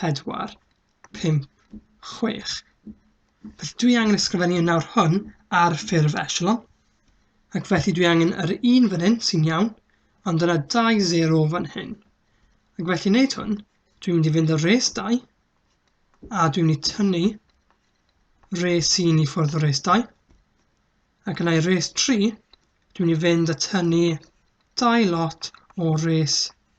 4, 5, 6. Felly dwi angen ysgrifennu yn nawr hwn ar ffurf echelon. Ac felly dwi angen yr un fan hyn sy'n iawn, ond yna 2 0 fan hyn. Ac felly wneud hwn, dwi'n mynd i fynd ar res 2, a dwi'n mynd i tynnu res 1 i ffwrdd o res 2, ac yna i res 3, dwi'n mynd i fynd a tynnu 2 lot o res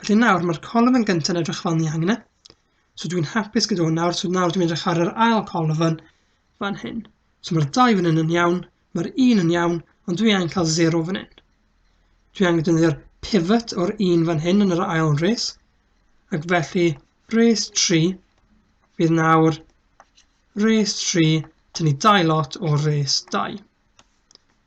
Felly nawr, mae'r colofn gyntaf yn edrych fel ni angen e. So dwi'n hapus gyda hwn nawr, so nawr dwi'n edrych ar yr ail colofn fan hyn. So mae'r dau fan hyn yn iawn, mae'r un yn iawn, ond dwi angen cael 0 fan hyn. Dwi angen defnyddio'r pivot o'r un fan hyn yn yr ail res, ac felly res 3 fydd nawr res 3 tynnu dau lot o'r res 2.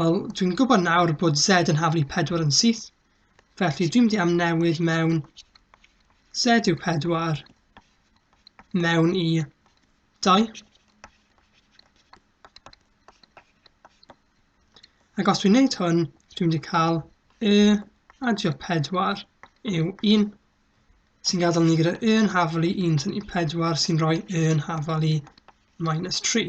Wel, dwi'n gwybod nawr bod Z yn haflu 4 yn syth, felly dwi'n mynd i amnewid mewn Z yw 4 mewn i 2. Ac os dwi'n gwneud hwn, dwi'n mynd i cael y adio 4 yw 1, sy'n gadael ni gyda y yn haflu 1 sy'n i 4 sy'n rhoi y yn haflu minus 3.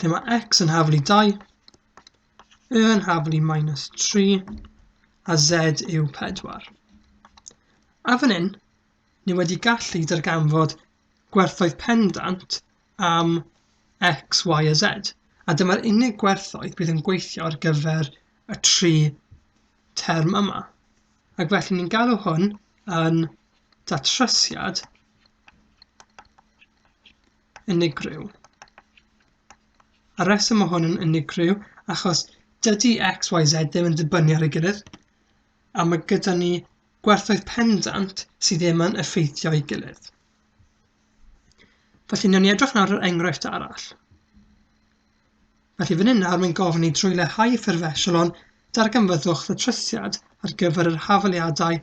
lle mae x yn haflu 2, y yn haflu minus 3, a z yw 4. A fan hyn, ni wedi gallu darganfod gwerthoedd pendant am x, y a z, a dyma'r unig gwerthoedd bydd yn gweithio ar gyfer y tri term yma. Ac felly ni'n galw hwn yn datrysiad unigryw. A reswm o hwn yn unigryw achos dydy x, y, z ddim yn dibynnu ar ei gilydd, a mae gyda ni gwerthoedd pendant sydd ddim yn effeithio ei gilydd. Felly, newn ni edrych nawr ar enghraifft arall. Felly, fan hyn nawr mae'n gofyn i drwy leihau ffurf esiolon, darganfyddwch ddatrysiad ar gyfer yr hafaliadau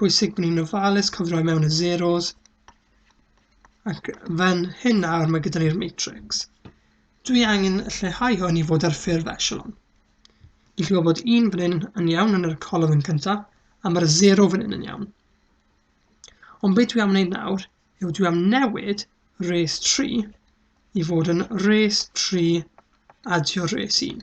bwysig bod ni'n ofalus cofio i mewn y zeros ac fan hyn nawr mae gyda ni'r matrix. Dwi angen lleihau hwn i fod ar ffurf echelon. I chi bod un fan hyn yn iawn yn yr colofn yn cyntaf a mae'r 0 fan hyn yn iawn. Ond beth dwi am wneud nawr yw dwi am newid res 3 i fod yn res 3 adio res 1.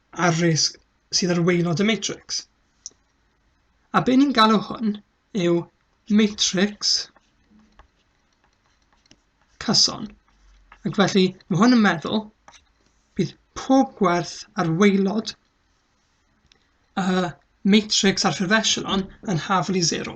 a'r risg sydd ar waelod y matrix. A be ni'n galw hwn yw matrix cyson. Ac felly, mae hwn yn meddwl bydd pob gwerth ar waelod y matrix ar ffurf echelon yn haflu 0.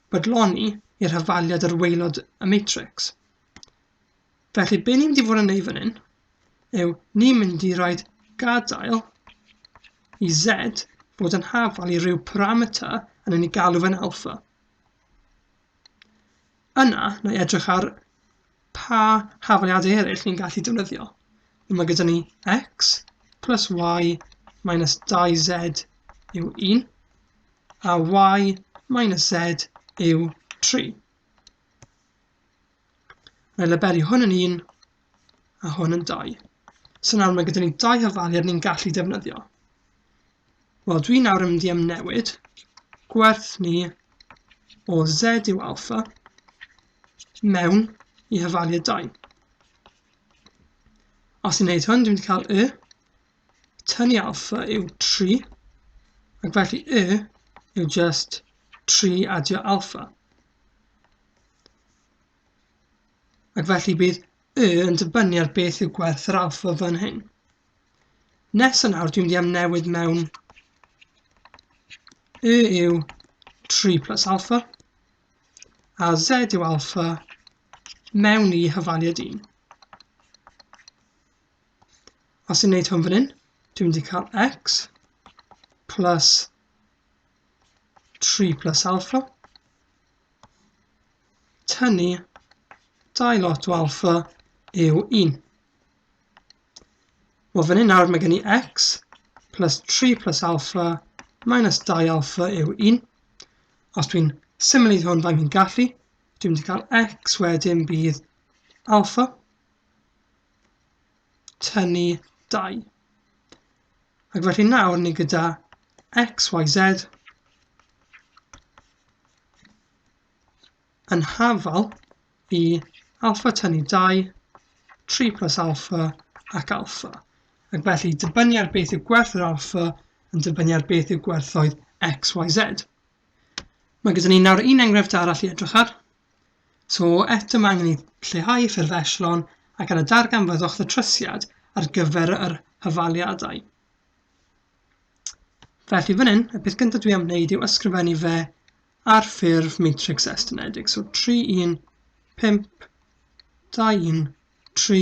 bodloni i'r hafaliad yr waelod y matrix. Felly, be ni'n mynd i fod yn neud fan hyn yw ni'n mynd i roed gadael i z fod yn hafal i ryw parameter yn ei galw fe'n alfa. Yna, na i edrych ar pa hafaliadau eraill ni'n gallu defnyddio. Mae gyda ni x plus y minus 2z yw 1. a y minus z yw 3. Mae labelu hwn yn 1 a hwn yn 2. So nawr mae gyda ni dau hyfalu'r ni'n gallu defnyddio. Wel, dwi nawr yn mynd i amnewid gwerth ni o z yw alfa mewn i hyfalu y 2. Os i'n neud hwn, dwi'n mynd i cael y tynnu alpha yw 3 ac felly y yw just 3 adio alpha. Ac felly bydd y yn dibynnu ar beth yw gwerth yr alpha fan hyn. Nes yn awr dwi'n mynd i am newid mewn y yw 3 plus alpha a z yw alpha mewn i hyfaliad 1. Os i'n neud hwn fan hyn, dwi'n mynd i cael x plus 3 plus alpha tynnu 2 lot o alpha yw 1. Wel, fan hyn nawr mae gen i x plus 3 plus alpha minus 2 alpha yw 1. Os dwi'n symud hwn faint fi'n gallu, dwi'n mynd i cael x wedyn bydd alpha tynnu 2. Ac felly nawr ni gyda x, y, z yn hafal i alfa tynnu 2, 3 plus alfa ac alfa. Ac felly dibynnu ar beth yw gwerth yr alfa yn dibynnu ar beth yw gwerthoedd x, y, z. Mae gyda ni nawr un enghraifft arall i edrych ar. So eto mae angen i lleihau ffurf eslon ac ar y darganfyddwch ddatrysiad ar gyfer yr hyfaliadau. Felly fan hyn, y peth gyntaf dwi am wneud yw ysgrifennu fe ar ffurf matrix estynedig. So 3, 1, 5, 2, 1, 3,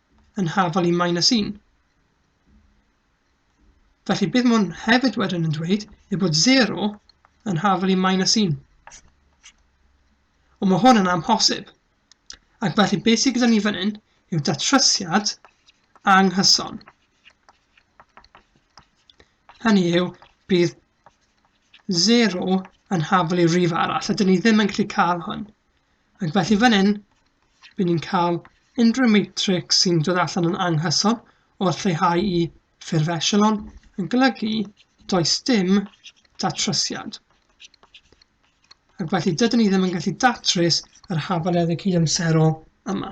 yn hafal i minus 1. Felly bydd hwn hefyd wedyn yn dweud ei bod 0 yn hafal i minus 1. Ond mae hwn yn amhosib. Ac felly beth sydd gyda ni fan hyn yw datrysiad anghyson. Hynny yw, bydd 0 yn hafal i rif arall, a dyn ni ddim yn gallu cael hwn. Ac felly fan hyn, bydd ni'n cael unrhyw matrix sy'n dod allan yn anghyson o'r lleihau i ffurf echelon yn golygu does dim datrysiad. Ac felly dydyn ni ddim yn gallu datrys yr hafaliadau cydamserol yma.